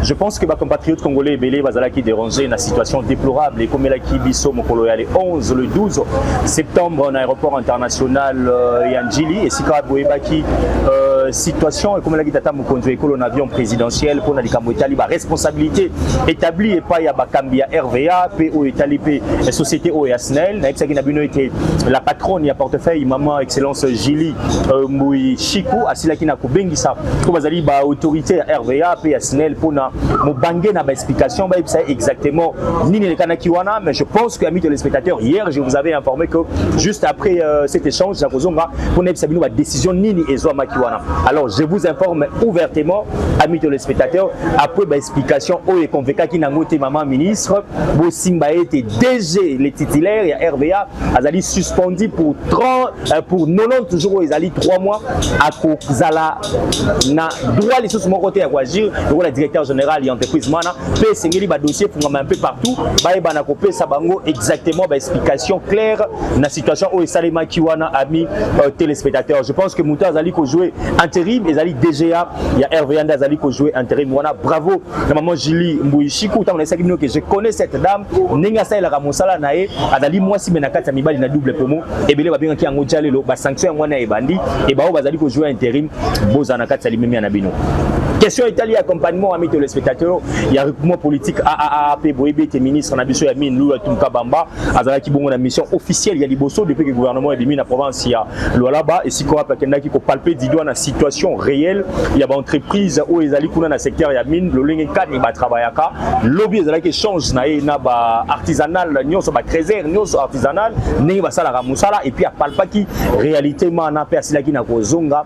Je pense que ba compatriotes congolais ebele bazalaki dérangés na situation déplorable ekomelaki biso mokolo ya le 11 le 12 septembre na aéroport international euh, ya Ndjili esika boyebaki euh, Euh, situation ekomelaki tata mokonzi ya ekolo na avion présidentiel mpo na likambo etali baresponsabilité établi epai ya bakambi ya rva mpe oyo etali mpe société oyo ya snel nayebisaki na bino ete la patronne ya portefeuille maman excellence Julie euh, Mbuyi Chiku asilaki na kobengisa ko bazali ba autorité ya RVA pe ya SNEL pona mobange na ba explication ba yebisa exactement nini elekanaki wana mais je pense que amis téléspectateurs hier je vous avais informé que juste après euh, cet échange na kozonga pona yebisa bino ba décision nini ezwamaki wana alors je vous informe ouvertement amis téléspectateurs après ba explication oyo ekonvekaki nango te maman ministre bosimba ete DG le titulaire ya RVA azali suspendu pour 30 euh, pour 90 jours oyo ezali 3 mois akozala na droit lisusu moko te ya koagir lokola directeur général ya entreprise mana mpe esengeli badossier efungama mpe partout bayebana kopesa bango exactement baexplication claire na situation oyo esalemaki wana ami euh, téléspectateur je pense que moto azali kojoue intérim ezali DGA ya RVA nde azali kojoue intérim wana bravo na maman Julie Mbuyi Shiku tango naisaki bino que je connais cette dame ndenge asalelaka mosala na ye azali mwasi me na kati ya mibali na double pomo ebele babengaki yango jalelo basanction yango wana ebandi e baoyo bazali kozwa interim bozala na kati ya limemia na bino question etali ya accompagnement ami telespectateur ya recrutement politique aaa mpe boyebi ete ministre na biso ya mine lula tumka bamba azalaki bongo na mission officielle ya liboso depuis que gouvernement ebimi na province ya Lualaba esika wapi akendaki kopalpe didwa na situation réelle ya baentreprise oyo ezali kuna na secteur ya mine lolenge kani batravaillaka lobi ezalaki échange na ye na baartisanal nyonso batrésere nyonso artisanal ndenge basalaka mosala epuis apalpaki réalité mana mpe asilaki na kozonga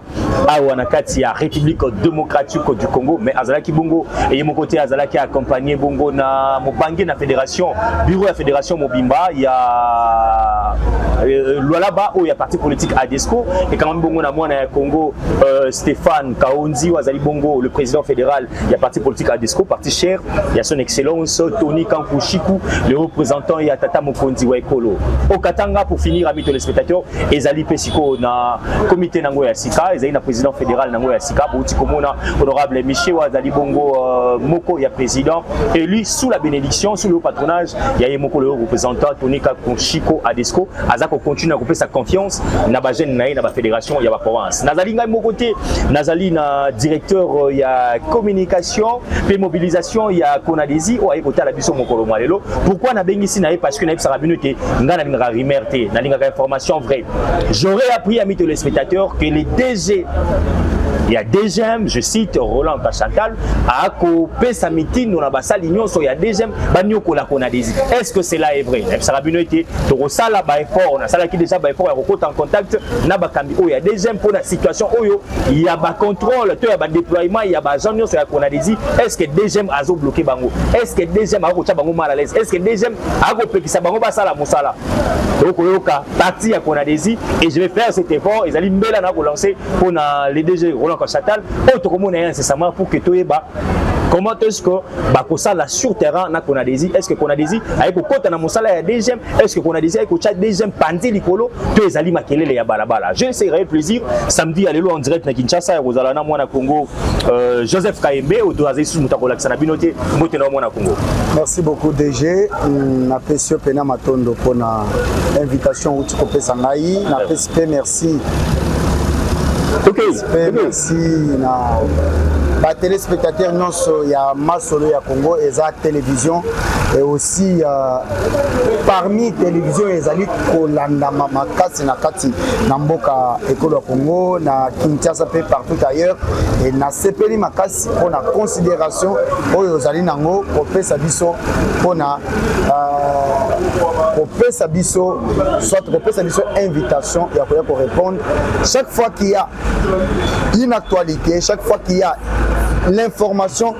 awa na kati ya république démocratique du congo mais azalaki bongo eye moko te azalaki accompagne bongo na mobange na fédération bureau ya fédération mobimba ya euh, euh, lwalaba oyo ya parti politique adesco ekangami bongo na mwana ya congo euh, stéphane kaonzi oyo azali bongo le président fédéral ya parti politique ya disco parti cher ya son excellence Tony Kankushiku le représentant ya tata mokonzi wa ekolo au Katanga pour finir amis téléspectateurs ezali pe siko na comité nango ya sika ezali na président fédéral nango ya sika bouti komona honorable Michel azali bongo euh, moko ya président élu sous la bénédiction sous le patronage ya ye moko le représentant Tony Kankushiku à disco aza ko continuer kopesa confiance na ba jeunes na ye na ba fédération ya ba province nazali ngai moko te nazali na directeur euh, ya communication pe mobilisation ya Conadesi oyo aye kotala biso mokolo mwa lelo pourquoi nabengisi na ye parce que nayebisaka bino te ngai nalingaka rumeur te nalingaka information vraie j'aurais appris à mes téléspectateurs que les DG Il y a DGM, je cite Roland Kachantal, à Ako, Pesa Mitin, on a Bassal Union, il y a DGM, baniokola kona desi est ce que cela est vrai nayebisaka bino ete tokosala baeffort nasalaki déjà baeffort ya kokota en contact na bakambi oyo ya deuxième mpo na situation oyo ya bacontrôle to ya badéploiement ya baagent nyonso ya kona desi est ce que deuxième azobloke bango est ce que deuxième akokotya bango mal à l'aise est ce que deuxième akopekisa bango basala mosala okoyoka parti ya kona desi et je vais faire cet effort ezali mbela na kolancer mpo na le dg roland kachatal oyo tokomona ye incessamment pour que toyeba comment est-ce que bakosala sur terrain na Konadesi est-ce que Konadesi aye kokota na mosala ya DGM est-ce que Konadesi aye kotya DGM panzi likolo to ezali makelele ya balabala je sais réel plaisir samedi ya lelo en direct na Kinshasa ya kozala na mwana Congo euh, Joseph Kaembe oyo azali susu moto akolakisa na bino te mbote na mwana Congo merci beaucoup DG napesi yo mpena matondo mpo na invitation outi kopesa ngai napesi mpe merci Merci. Ok, Respect, ok. merci na ba téléspectateurs nyonso ya masolo ya Congo eza télévision et aussi euh, parmi télévision ezali kolandama makasi na kati na mboka ekolo ya Congo na Kinshasa mpe partout ailleurs et nasepeli makasi mpo na considération oyo ozali nango kopesa biso mpo na uh, kopesa biso soit kopesa biso invitation ya koya korépondre chaque fois qu'il y a une actualité chaque fois qu'il y a l'information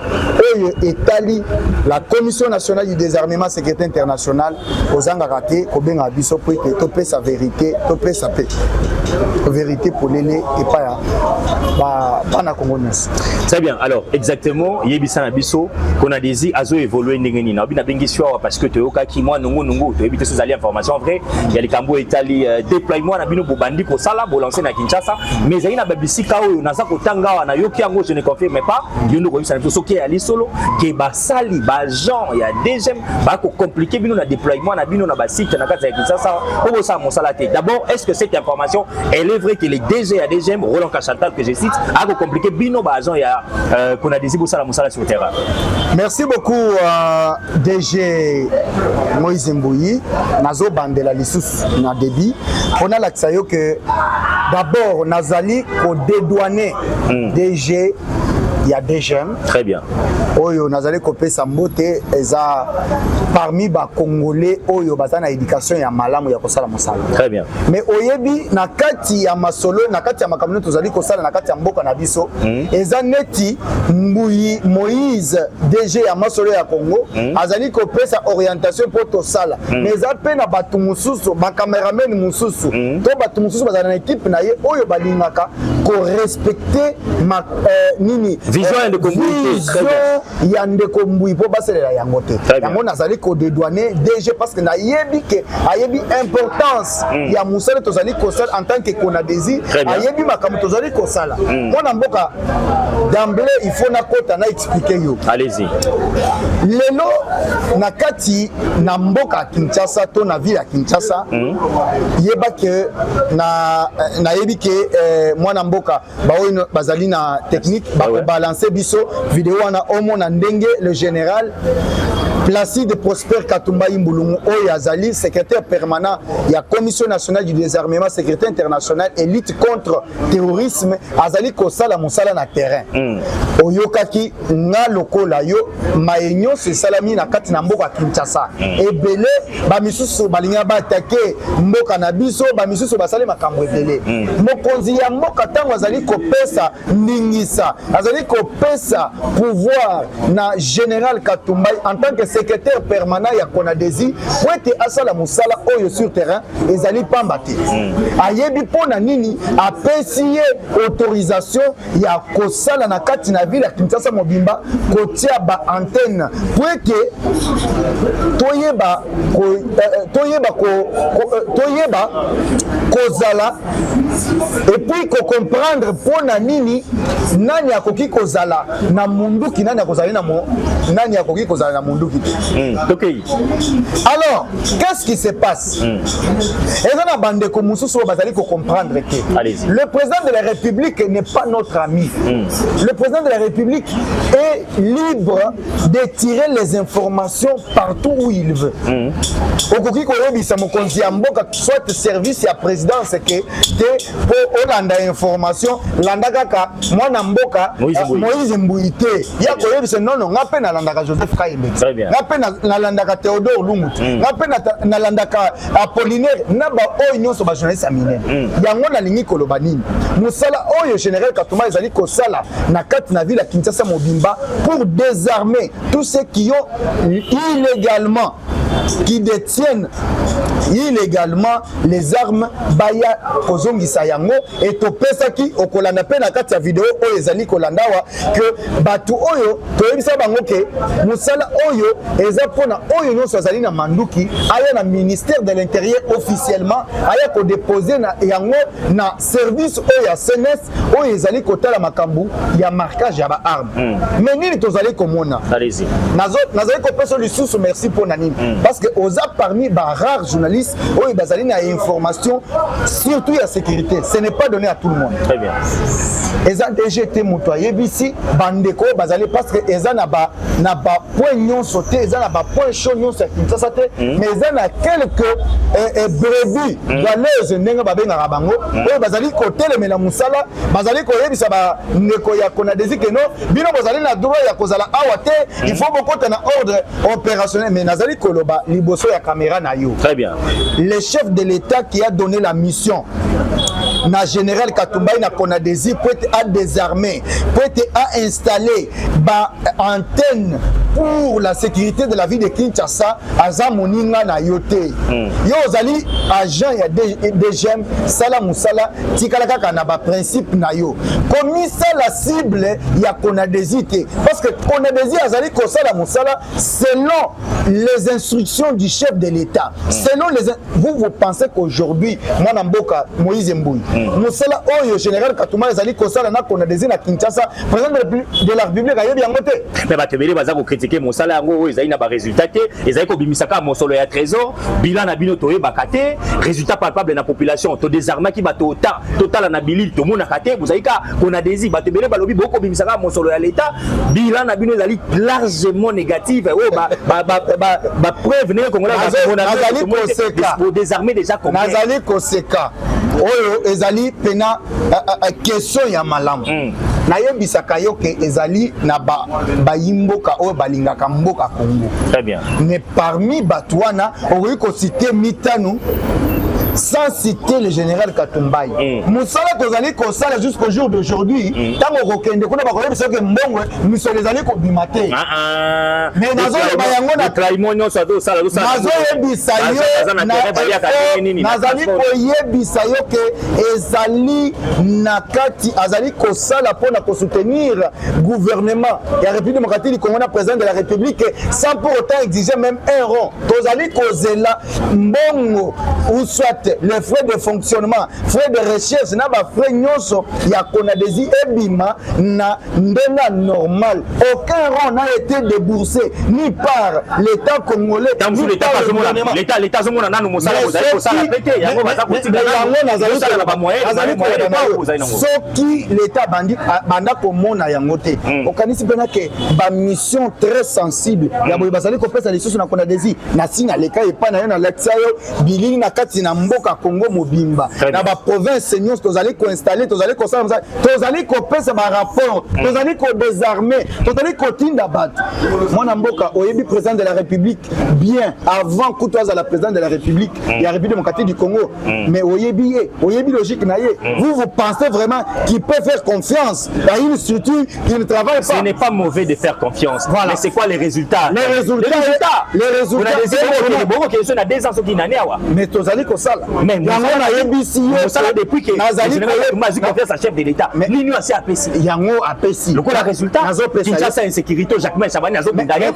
oyo etali la commission nationale du désarmement sécurité internationale kozangaka te kobengaka biso mpo ete topesa verité topesa mpe verité polele epai ya bana kongo nyonso Très bien. Alors, exactement, yebisa na biso, qu'on a désir à zo évoluer ndenge nini. Obi na bengi soir parce que toyoka ki moi nungu nungu, to ebite sous information vrai. Il y a les kambo etali euh, déploiement na bino bobandi ko sala bo lancer na Kinshasa, mais ezali na babisika oyo naza kotanga wana yoki yango je ne confirme pas. Yo ndoko yebisa na biso soki ya lisolo ke ba basali ba agent ya DGM ba ko compliquer bino na déploiement na bino na ba site na kati ya Kinshasa po bosala mosala te d'abord est-ce que cette information elle est vraie que les DG ya DGM Roland Kashantal que je cite a ko compliquer bino ba agent ya euh, qu'on a désir bosala mosala sur terrain merci beaucoup euh, DG Moïse Mbuyi nazo bandela lisusu na débit mpo nalakisa yo que d'abord nazali kodédouane mm. DG ya DGM Très bien. Oyo nazali kopesa mbote eza parmi ba congolais oyo baza na éducation ya malamu ya kosala mosala. Très bien. Mais oyebi na kati ya masolo na kati ya makambo tozali kosala na kati ya mboka na biso mm. eza neti mbuyi Moïse DG ya masolo ya Congo mm. azali kopesa orientation mpo tosala mm. mais eza mpe na bato mosusu ba cameraman mosusu mm. to bato mosusu bazala na ekipe na ye oyo balingaka korespecte eh, nini vision ya ndeko mbui vision ya ndeko mbui mpo basalela yango te yango nazali kodedouane dg parce que nayebi ke ayebi importance mm. ya mosala tozali kosala en tant que conadesi ayebi makambo tozali kosala mm. mwana mboka d'emblée il faut nakota na explique yo allez-y lelo na kati na mboka ya kinshasa to na ville ya kinshasa mm. yeba ke nayebi na ke eh, mwana mboka baoyo bazali na technique ah bakobalanse biso video wana omona ndenge le général Placide Prosper Katumba Imbulungu oyo azali secrétaire permanent ya Commission nationale du désarmement sécurité internationale et lutte contre terrorisme azali kosala mosala na terrain mm. oyokaki nga lokola yo maye nyonso esalami na kati na mboka kinshasa mm. ebele bamisusu balinga baatake mboka na biso bamisusu basali makambo ebele mm. mokonzi ya mboka ntango azali kopesa ndingisa azali kopesa pouvoir na général katumbai en tant que secrétaire permanent ya conadesi po ete asala mosala oyo sur terrain ezali pamba te mm. ayebi mpo na nini apesi ye autorisation ya kosala na kati na ville ya Kinshasa mobimba kotia ba antenne po ete toyeba ko, eh, eh toyeba ko, ko, eh, toyeba kozala epuis kocomprendre mpo na nini nani akoki kozala na munduki nani akozali na mo, nani akoki kozala na munduki te mm, okay. alors qu'est-ce qui se passe Hmm. eza na bandeko mosusu oyo bazali kocomprendre te le président de la république n'est pas notre ami hmm. le président de la république est libre de tirer les informations partout où il veut hmm. okoki koyebisa mokonzi ya mboka soit service ya présidence ke te po olanda information landa kaka mwana mboka moise mbuyi te ya koyebisa nono nga mpe nalandaka joseph kayembe nga mpe nalandaka theodore lungu te mm. nga mpe nalandaka apollinaire na baoyo nyonso bajournaliste ya minene mm. yango nalingi koloba nini mosala oyo général katuma ezali kosala na kati na ville ya kinshasa mobimba pour désarmer tous ceux qui ont illégalement qui détiennent illégalement les armes baya kozongisa yango et topesaki okolanda mpe na kati ya video oyo ezali kolanda awa ke bato oyo toyebisa bango ke mosala oyo eza mpona oyo nyonso azali na manduki aya na ministère de l'intérieur officiellement aya kodepose na yango na service oyo ya cns oyo ezali kotala makambo ya marquage ya baarme mm. me nini tozali komona nazali kopesa lisusu merci mpo na nini mm. parce que oza parmi barare journaliste oyo bazali na information surtout ya sécurité ce n'est pas donné à tout le monde Très bien. eza dg te moto ayebisi bandeko oyo bazali parce que eza na ba, na ba point nyonso te eza na bapoint chaud nyonso ya kinshasa te hmm. mais eza na quelque eh, eh, brebis hmm. valeuses ndenge babengaka bango hmm. oyo bazali kotelemela mosala bazali koyebisa bandeko ya konadesi keno bino bozali na droit ya kozala awa te il faut bokota na ordre opérationnel mais nazali koloba liboso ya kamera na yo très bien le chef de l'état qui a donné la mission na général katumbai na konadesi po ete a désarmer po ete a installer ba antenne pour la sécurité de la ville de Kinshasa aza moninga na yo te mm. yo ozali agent ya DGM sala musala tikala kaka na ba principe na yo komisa la cible ya Konadesi te parce que Konadesi azali kosala musala selon les instructions du chef de l'État mm. selon les vous vous pensez qu'aujourd'hui mwana mboka moïse mbuyi hmm. mosala oyo général katuma ezali kosala na konadesi na kinshasa président de la république ayebi yango te me bato ebele baza kokritike mosala yango oyo ezali na baresultat te ezali kobimisa kaka mosolo ya trésor bilan na bino toyebaka te résultat palpable na population todesarmaki bato ota totala na bilili tomonaka te bozali ka kona desi bato ebele balobi bokobimisa kaka mosolo ya leta bilan na bino ezali largement négative oyo bapreuve ndenge congolaisdesarme déjà nazali koseka oyo ezali mpena eh, eh, eh, question ya malamu mm. nayebisaka yo ke ezali na bayimboka ba oyo balingaka mboka congo Parmi bato wana okoki kosite mitano sans citer le général Katumbayi. Mm. Musala tozali kosala jusqu'au jour d'aujourd'hui, mm. tango kokende kuna bakoyebisa ke mbongo misolo ezali kobima te. Ah, ah. Mais nazoloba yango na trahimo nyonso azosala azosala. Nazoyebisa yo na nazali koyebisa yo ke ezali na kati azali kosala mpo na kosoutenir gouvernement ya république démocratique du congo na président de la république sans pour autant exiger même un rond tozali kozela mbongo ou soit les frais de fonctionnement frais de recherche na bafrais nyonso ya konadesi ebima na ndenge normal aucun rond n'a été déboursé ni par l'état congolais l'état azomona nanu mosala kozali kosala mpe te yango baza kotika yango nazali koyeba soki qui l'État bandi banda komona yango te mm. okanisi mpena ke bamission très sensible mm. ya boye bazali kopesa lisusu na kona desi nasi naleka epai na yo nalakisa yo bilili na kati na mboka congo mobimba na baprovince nyonso tozali koinstalle tozali kosala mosala tozali kopesa barapport mm. tozali kodesarme tozali kotinda bato mwana mboka oyebi président de la république bien avant kutu azala président de la république ya république démocratique du congo mm. mais oyebi ye oyebi logique na ye mm. vous vous pensez vraiment qu'il peut faire confiance à une structure qui ne travaille pas ce n'est pas mauvais de faire confiance voilà. mais c'est quoi les résultats les résultats les résultats les résultats bongo ke na 2 ans soki na ne awa mais tozali kosala mais yango na yebisi yo kosala depuis que nazali komazi confiance à chef de l'état nini asi apesi yango apesi lokola résultat Kinshasa insécurité Jacquemin Chabani azobunda ye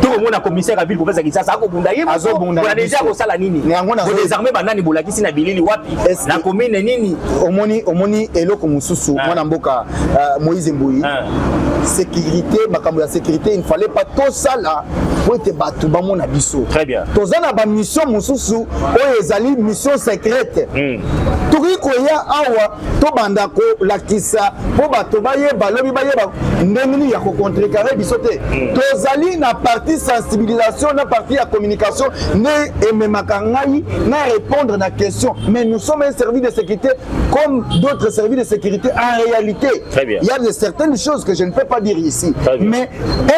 tokomona commissaire ya ville province ya Kinshasa akobunda ye moko deja akosala nini bodesarme banani bolakisi na bilili wapi na commune nini omoni omoni eloko mosusu ah. mwana mboka euh, Moïse Mbuyi ah. sécurité makambo ya sécurité il ne fallait pas tosala mpo ete bato bamona biso toza na bamission mosusu oyo ezali mission secrète hmm. tokoki koya awa tobanda kolakisa mpo bato bayeba lobi bayeba ndenge nini ya kocontrekare biso te mm. tozali na parti sensibilisation na parti ya communication nde ememaka ngai na répondre na question mais nous sommes un service de sécurité comme d'autres services de sécurité en réalité il y a de certaines choses que je ne peux pas dire ici mais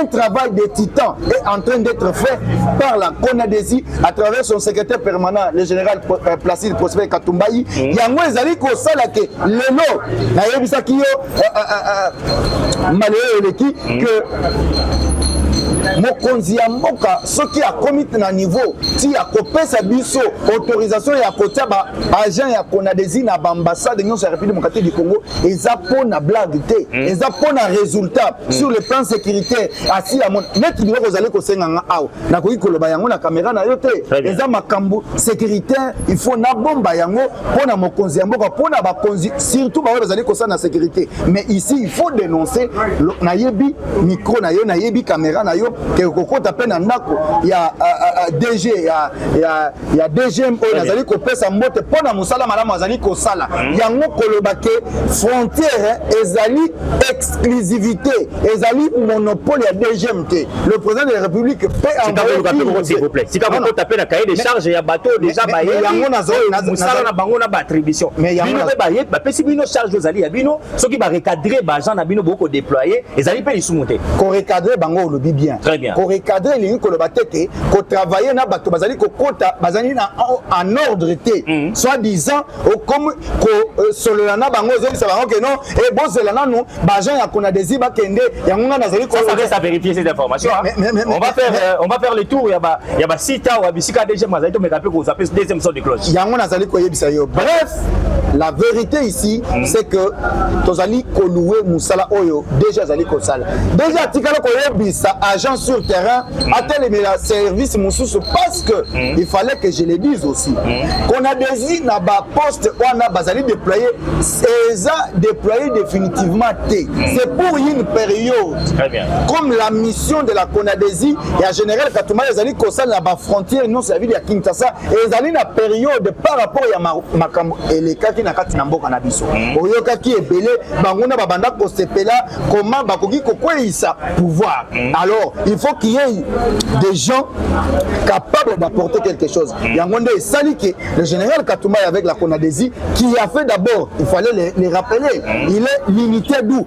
Un travail de titan est en train d'être fait par la CONADESI à travers son secrétaire permanent, le général euh, Placide Prosper Katumbayi. Mm. Yango ezali kosala ke lelo nayebisaki yo euh, euh, malheureux eleki mm. que mokonzi ya mboka soki akomi na niveau ti akopesa biso autorisation ya kotia ba agent ya conadesi na baambassade nyonso ya république démocratique du congo eza mpo na blague te hmm. eza mpo na résultat mm. sur le plan sécuritaire asi ya mon neti biloko ozali kosenga nga awa nakoki koloba yango na kamera na yo te eza makambo sécuritaire il faut nabomba yango mpo na mokonzi ya mboka mpo na bakonzi surtout baoyo bazali kosala na sécurité mais ici il faut dénoncer nayebi micro na yo nayebi kamera na yo ke kokota mpe na ndako ya euh, euh, euh, dg ya, ya, ya dgm oyo nazali kopesa mbote mpo na mosala malamu azali kosala hmm. yango koloba ke frontière ezali exclusivité ezali monopole ya dgm te le président de la république peut envoyesika pe na cahier de charge ya bato deja bayeyango nazomosala na bango na baattribution bino mpe bapesi bino charge ozali ya bino soki ba recadrer ba agents na bino boko déployer ezali pe lisumu te ko recadrer bango olobi bien très bien ko recadrer elingi koloba te te ko travailler na bato bazali kokota bazali na en ordre te mm. soit disant okomi kosolola euh, na bango ozongisa bango ke non e eh, bozela nanu baagent ya kona desi bakende yango ngai nazali vérifier cette information on va faire euh, on va faire le tour ya ba ya ba site awa bisika deuxième azali tomeka mpe kozape deuxième son de cloche yango nazali koyebisa yo bref La vérité ici mm. c'est que tozali kolouer mosala oyo déjà azali kosala déjà atikala koyebisa agent sur terrain mm. atelemela service mosusu parce que mm. il fallait que je le dise aussi mm. qu'on a desi na baposte wana bazali déploye eza déploye définitivement te mm. c'est pour une période Très bien. comme la mission de la conadesi ya général katumala ezali kosala na bafrontière nyonso ya ville ya kinshasa ezali na periode par rapport ya makambo elekaki na kati na mboka na biso mm. oyokaki ebele banguna babanda kosepela koma bakoki kokweyisa pouvoir mm. alors il faut qu'il y ait des gens capables d'apporter quelque chose mm. yango nde esali ke le général katumai avec la conadesi qui a fait d'abord il fallait les, les rappeler il est l'unité d'où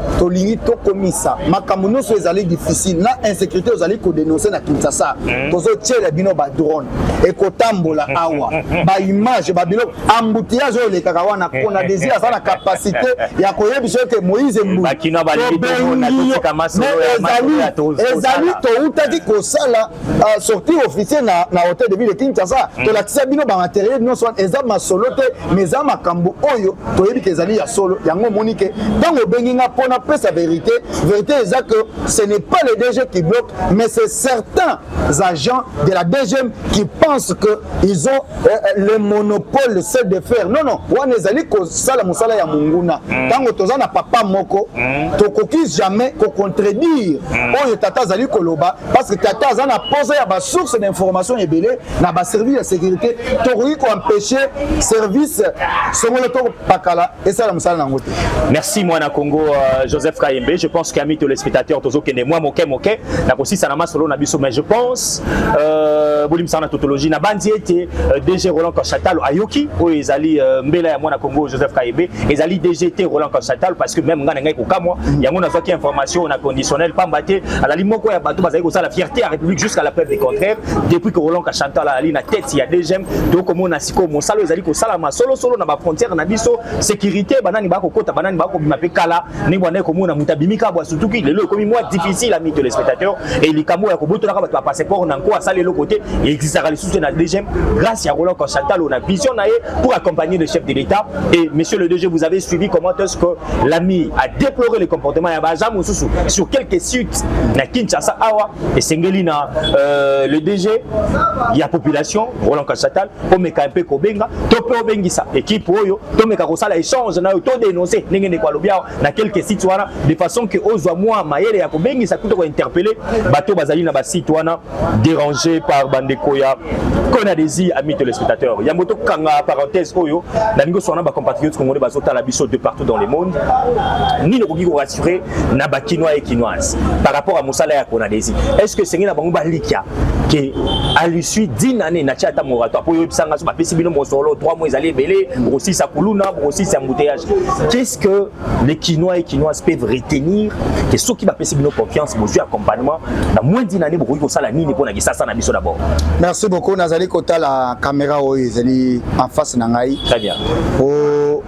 tolingi tokomisa makambo nyonso ezali difficile na insécurité ozali kodenonse na kinshasa hmm. tozotyela bino badrone ekotambola hmm. awa hmm. baimage babiloko embouteillage oyo elekaka wana mpona désir aza na capacité ya koyebisa yo ke moïse mbuiezali toutaki kosala uh, sortie officier na, na hotel de ville de kinshasa mm. tolakisa bino bamateriel nyonso wana eza masolo te ma eza makambo oyo toyebi ke ezali ya solo yango omoni ke ntango obengi nga mpo napesa verité verité eza que ce n'est pas le dg qui bloque mais c'est certains agents de la dgm qui pensent que ils ont euh, euh le monopole le seul de faire non non wana ezali kosala mosala ya monguna mm. ntango mm. toza na papa moko mm. tokoki jamais kocontredire mm. oyo tata azali koloba parce que tata aza na posa ya basource d'information ebele na baservice ya sécurité tokoki koempêche service songolo to pakala esala mosala na yango te merci mwana congo uh, joseph kayembe je pense qu'ami to lespectateur tozokende mwa moke moke na kosisa na masolo na biso mais je pense euh, bolimisaka na tautologie na bandi ete euh, dg roland kachatalo ayoki oyo ezali euh, mbela ya mwana congo joseph kayembe ezali dg te roland kachatalo parce que même ngai na ngai kokamwa mm. yango nazwaki information na conditionnel pamba te azali moko ya bato bazali kosala fierté ya république jusqu'à la preuve du contraire depuis que roland kashanta alalali na tete ya dgm toyei komona sikoyo mosala oyo ezali kosalama solosolo na bafrontière na biso sécurité banani bakokota banani bakobima mpe kala ndenge bandaki komona moto abimi kabo asutuki lelo ekomi mwa difficile ami téléspectateur e likambo ya kobotolaka bato ya passeport na nko asali eloko te existaka lisusu te na dgm grâce ya roland kashanta lo na vision na ye pour accompagner le chef de l'état et monsieur le dg vous avez suivi comment est ce que L'ami a déploré le comportement ya baza mosusu sur quelques sites na Kinshasa awa esengeli na euh, le DG ya population Roland Kasatal omeka mpe kobenga to mpe obengisa ekipe oyo tomeka kosala échange nayo to dénoncer ndenge ndeko alobi awa na quelques sites wana de façon que ozwa mwa mayele ya kobengisa kuto kointerpelle bato bazali na basite wana dérangé par bandeko ya kona désir ami téléspectateur yango tokanga parenthèse oyo nalingi oswana na bacompatriote congolais bazotala biso de partout dans le monde nini okoki korassurer na bakinois et kinoise par rapport à mosala ya kona désir est ce que esengeli na bango balikya ke à l'issue d'une année na tia ata moratoire mpo oyebisa nga so bapesi bino mosolo 3 mois ezali ebele bokosilisa kuluna bokosilisa embouteillage qu'est ce que les kinois et kinoises peuvent retenir que ceux qui bapesi bino confiance bozwi accompagnement na moins d'une année bokoki kosala nini mpo na kisasa na biso d'abord merci beaucoup nazali kotala caméra oyo ezali en face na ngai très bien oh.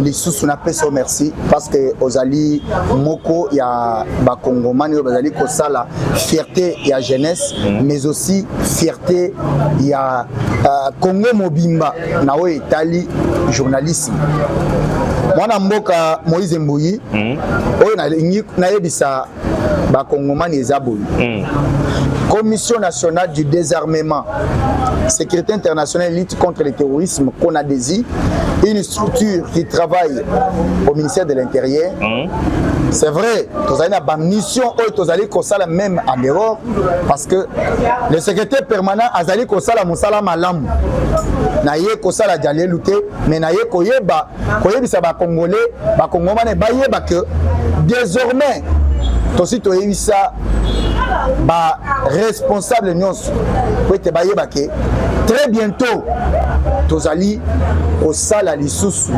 lisusu napesa merci parce que ozali moko ya bakongomani oyo bazali kosala fierté ya jeunesse mm. mais aussi fierté ya uh, congo mobimba na oyo etali journalisme mwana mboka moise mbuyi mm. oyo nalingi nayebisa bakongomani eza boye mm. commission nationale du désarmement sécurité internationale lutte contre le terrorisme conadesi une structure qui travaille au ministère de l'intérieur mm. c'est vrai tozali na bamission oyo tozali kosala même en dehors parce que le secrétaire permanent azali kosala mosala malamu naye kosala jalelu te mais naye koyeba koyebisa bacongolais bacongomane bayeba ke désormais tosi toyebisa baresponsable nyonso po ete bayeba ke très bientôt tozali kosala lisusu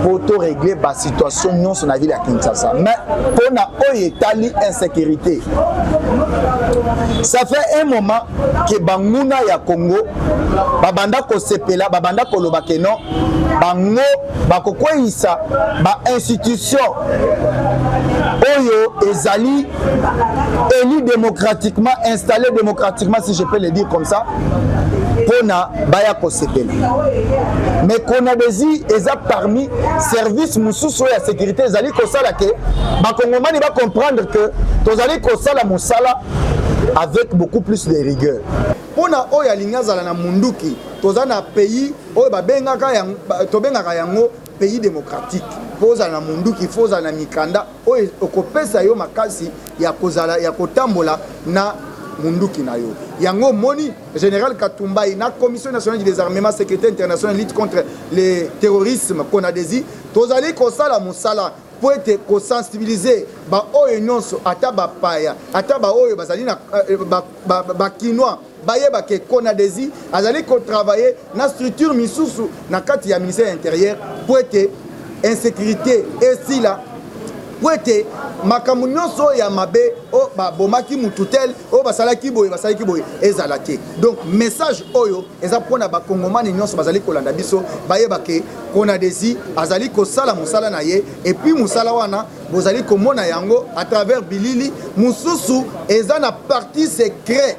mpo toregle basituation nyonso na ville ya kinshasa mais mpo na oyo etali insécurité ça fait un moment ke banguna ya Congo babanda kosepela babanda koloba ke non bango bakokweyisa bainstitution oyo ezali élu démocratiquement installé démocratiquement si je peux le dire comme ça mpona baya kosepela mais konadesi eza parmi service mosusu oyo ya sécurité ezali kosala ke bakongomani bacomprendre ke tozali kosala mosala avec beaucoup plus de rigueur mpo na oyo alingi azala na munduki toza na pays oyo babengaka yango tobengaka yango pays démocratique mpo ozala na munduki fo ozala na mikanda oyo okopesa yo makasi ya kozala ya kotambola na munduki na yo yango omoni général katumbai na commission nationale du désarmement sécurité internationale lutte contre le terrorisme konadesi tozali kosala mosala mpo ete kosensibilize baoyo nyonso, ata bapaya, ata baoyo bazali na bakinois bayeba ke Conadesi azali kotravaille na structure misusu na kati ya ministère ya interieur mpo ete insécurité esila mpo ete makambo nyonso oyo ya mabe oyo babomaki motu tel oyo basalaki boye basalaki boye ezala te donc message oyo Eza mpo na bakongomani nyonso bazali kolanda biso bayeba ke Conadesi azali kosala mosala na ye, epuis mosala wana bozali komona yango à travers bilili mosusu eza na parti secret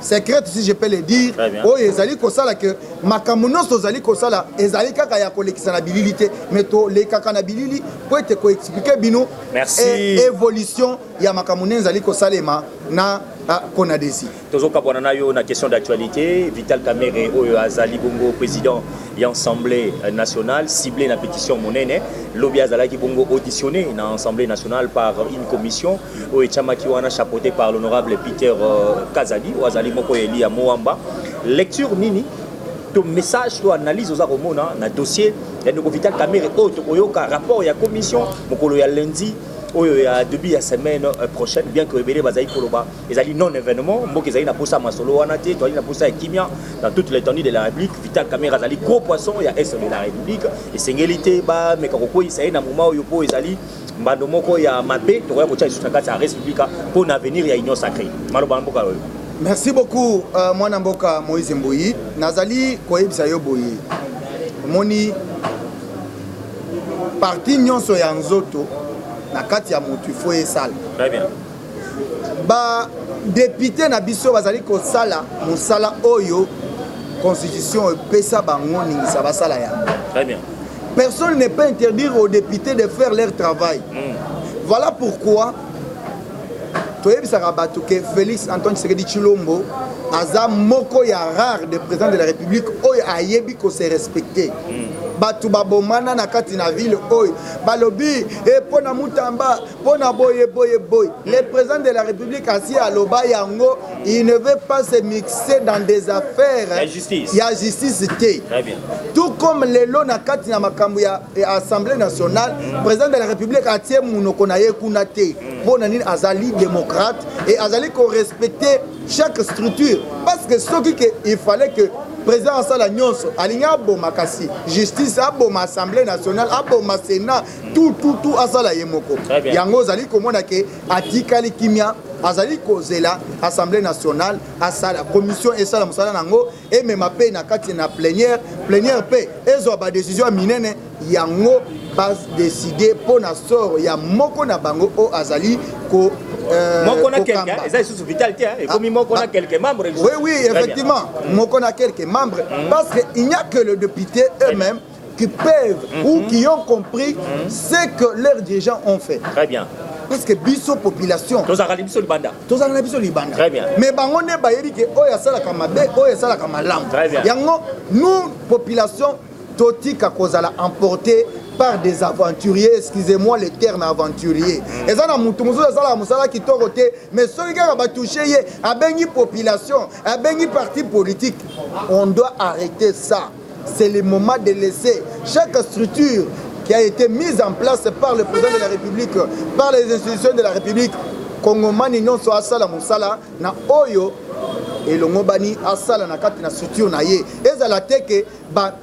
secrète si je peux le dire oyo ezali kosala ke makambo nyonso tozali kosala ezali kaka ya kolekisa na bilili te mais tolekaka na bilili mpo ete koexplike bino e, évolution ya makambo nde ezali kosalema na ah, konadesi Tozo kabwana na yo na question d'actualite. Vital Kamerhe oyo azali bongo president ya Assemblée nationale ciblé na petition monene. Lobi azalaki bongo auditionné na Assemblée nationale par une commission oyo etiamaki wana chapeautée par l'honorable Peter euh, Kazadi oyo azali moko ya eli ya Moamba. Lecture nini to message to analyse oza komona na dossier ya ndeko Vital Kamerhe oyo tokoyoka rapport ya commission mokolo ya lundi oyo ya début ya semaine euh, prochaine bien que ebele bazali koloba ezali non événement mboka ezali na posa ya masolo wana te toali na posa ya kimia dans toute l'étendue de la république vital camere azali gros poisson ya est de la république esengeli te bameka kokweyisa ye na moma oyo mpo ezali mbando moko ya mabe tokoya kotya lisusu na kati ya république mpo na avenir ya union sacré maloba na mboka oyo merci beaucoup uh, mwana mboka moïse mboyi nazali koyebisa yo boye omoni parti nyonso ya nzoto na kati ya motu ifo esala Ba depute na biso bazali kosala mosala oyo constitution epesa bango ningisa basala yango. Très bien. Personne n'est pas interdire aux députés de faire leur travail. Mm. Voilà pourquoi toyebisaka bato ke félix antoine tshisekedi tshilombo aza moko ya rare de président de la république oyo ayebi kose respecte bato babomana na kati na ville oyo balobi epo eh, na mutamba mpo na boye boye boye le président de la république asi aloba yango il ne veut pas se mixer dans des affaires ya justice, ya justice te tout comme lelo na kati na makambo ya assemblée nationale mm. président de la république atie monoko na ye kuna te mm. mpo na nini azali démocrate et azali korespecter chaque structure parce que soki ke il fallait que président asala nyonso alingi aboma kasi justice aboma assemblée nationale aboma sénat tout tout tout asala ye moko yango ozali komona ke atikali kimia azali kozela assemblée nationale asala commission esala mosala na yango emema mpe na kati na plénière plénière mpe ezwa badécision ya minene yango badeside mpo na sort ya moko na bango oyo azali ko Euh, moko na quelqu'un hein, eza lisusu vital te hein, ekomi ah, moko na ah. quelques membres oui oui effectivement moko na quelques membres mm. parce que il n'y a que le député eux-mêmes qui peuvent mm -hmm. ou mhm. qui ont compris mm -hmm. ce que leurs dirigeants ont fait. Très bien. parce que biso population tozalaka biso libanda tozalaka na biso libanda très bien mais bango nde bayebi ke oyo asalaka mabe oyo asalaka malamu très bien yango nous population totika kozala emporter par des aventuriers excusez-moi le terme aventurier mm. eza na motu mosusu asalaka mosala kitoko te mais soki kaka batouche ye abengi population abengi parti politique on doit arrêter ça C'est le moment de laisser chaque structure qui a été mise en place par le président de la République, par les institutions de la République, kongomani nyonso asala mosala na oyo elongobani asala na kati na structure na ye ezala te ke ba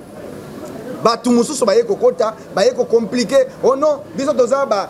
bato mosusu baye kokota baye kokomplike o oh non biso toza ba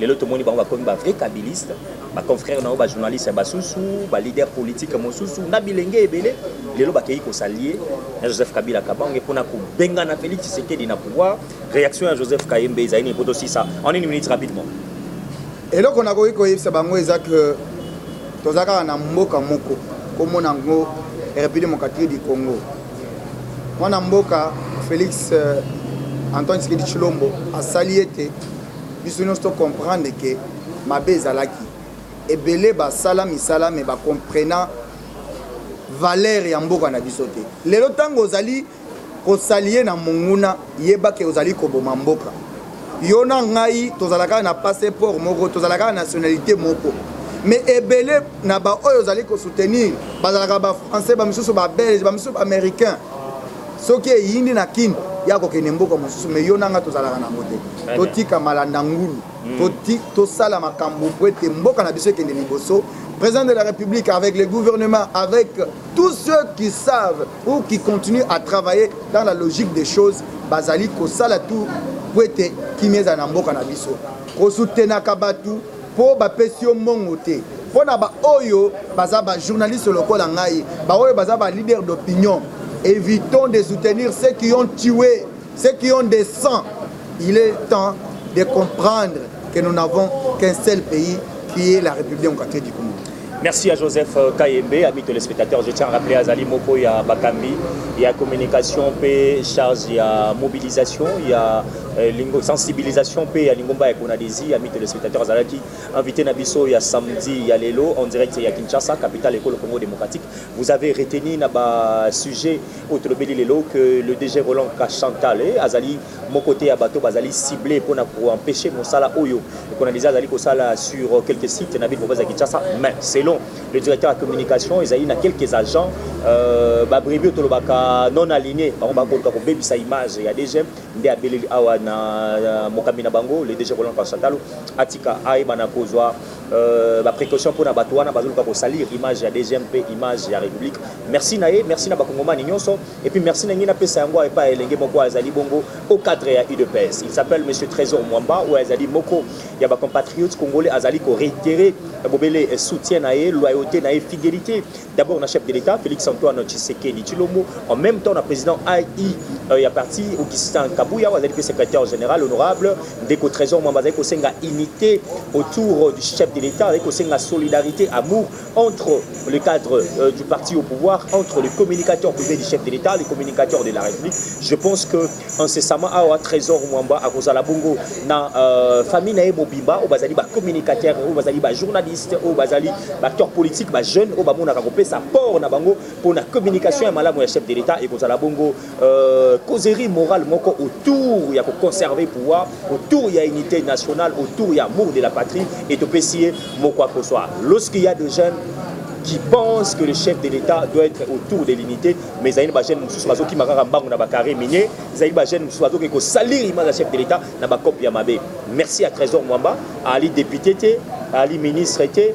Lelo tomoni bango bakomi ba vrai kabiliste ba confrères na yo ba journalistes basusu ba leaders politiques mosusu na bilenge ebele lelo bakeyi ko s'allier na Joseph Kabila Kabange pona kobengana Felix Tshisekedi na pouvoir. Reaction ya Joseph Kayembe ezali nini poto sisa en une minute rapidement. Eloko nakoki koyebisa bango eza que toza kaka na mboka moko komona yango République démocratique du Congo mwana mboka Felix euh, Antoine Tshisekedi Tshilombo asali ete Biso nionso to comprendre que mabe ezalaki ebele ba sala misala mais ba comprena valeur ya mboka na biso te. Lelo tango ozali ko salie na monguna yeba que ozali koboma mboka. Yo na ngai tozalaka na passeport moko, tozalaka na nationalite moko. mais ebele na baoyo ozali kosoutenir bazalaka bafrançais bamisusu babelge bamisusu baaméricain soki eyindi na kin ya kokende mboka mosusu me yo nanga tozalaka nango te totika malanda ngulu hmm. tosala makambo mpo ete mboka na biso ekende liboso président de la république avec le gouvernement avec tous ceux qui savent ou qui continuent à travailler dans la logique des choses bazali kosala tout mpo ete kimia ezala na mboka na biso kosutenaka bato po ba pesi yo mbongo te po na ba oyo baza ba journaliste lokola ngai ba oyo baza ba leader d'opinion evitons de soutenir ceux qui ont tué ceux qui ont des sangs il est temps de comprendre que nous n'avons qu'un seul pays qui est la République démocratique du Congo Merci à Joseph euh, Kayembe, ami téléspectateur. Je tiens à rappeler Azali Moko ya Bakambi, il y a communication, paix, charge, il y a mobilisation, il y a euh, lingo, sensibilisation, paix, il y a Lingomba et Konadesi, ami téléspectateur. Azali qui invité Nabiso, il y a samedi, il y a Lelo, en direct, il y a Kinshasa, capitale école Congo démocratique. Vous avez retenu Naba sujet au Tolobeli Lelo que le DG Roland Kachantale, Azali Moko te ya bato bazali cibles pona ko empecher mosala oyo Conadisa azali kosala sur quelques sites na ville province ya Kinshasa mais selon le directeur ya communication ezali na quelques agents euh, ba brebis oyo tolobaka non aligne bango bakoluka kobebisa image ya DG nde abeleli awa na euh, mokambi na bango le DG Roland Kasatalo atika ayeba na kozwa euh, ba précaution pona bato wana bazoluka kosalir image ya DGM mpe image ya République merci na ye merci na bakongomani nyonso Et puis merci na ngai napesa yango epai ya elenge moko azali bongo au cadre ya udps il s'appelle monsieur trésor mwamba oyo azali moko ya bacompatriote congolais azali koreitere bobele soutien na ye loyauté na ye fidélité d'abord na chef de l'état félix antoine tshisekedi tshilombo en même temps na président ai euh, ya parti augustin kabuya oyo azali mpe secrétaire général honorable ndeko trésor mwamba azali kosenga unité autour du chef de l'état azali kosenga solidarité amour entre le cadre euh, du parti au pouvoir, entre le communicateur privé du chef de l'État, le communicateur de la République. Je pense que incessamment awa Trésor Mwamba akozala bongo na euh, famille naye mobimba au bazali ba communicateur, au bazali ba journaliste, au bazali ba acteur politique, ba jeune au ba mona ko pesa port na bango pour la communication ya malamu ya chef de l'État et kozala bongo Euh, causerie morale moko autour ya koconserve pouvoir autour ya unité nationale autour ya amour de la patrie et topesi ye moko akoswa lorsqu'il y a de jeunes qui pensent que le chef de l'État doit être autour de l'unité mais ezali na bagene mosusu bazokima kaka mbangu na bacarré minier ezali bagene mosusu bazoki kosalir image ya chef de l'État na bacope ya mabe merci ya trésor mwamba ali député te ali ministre te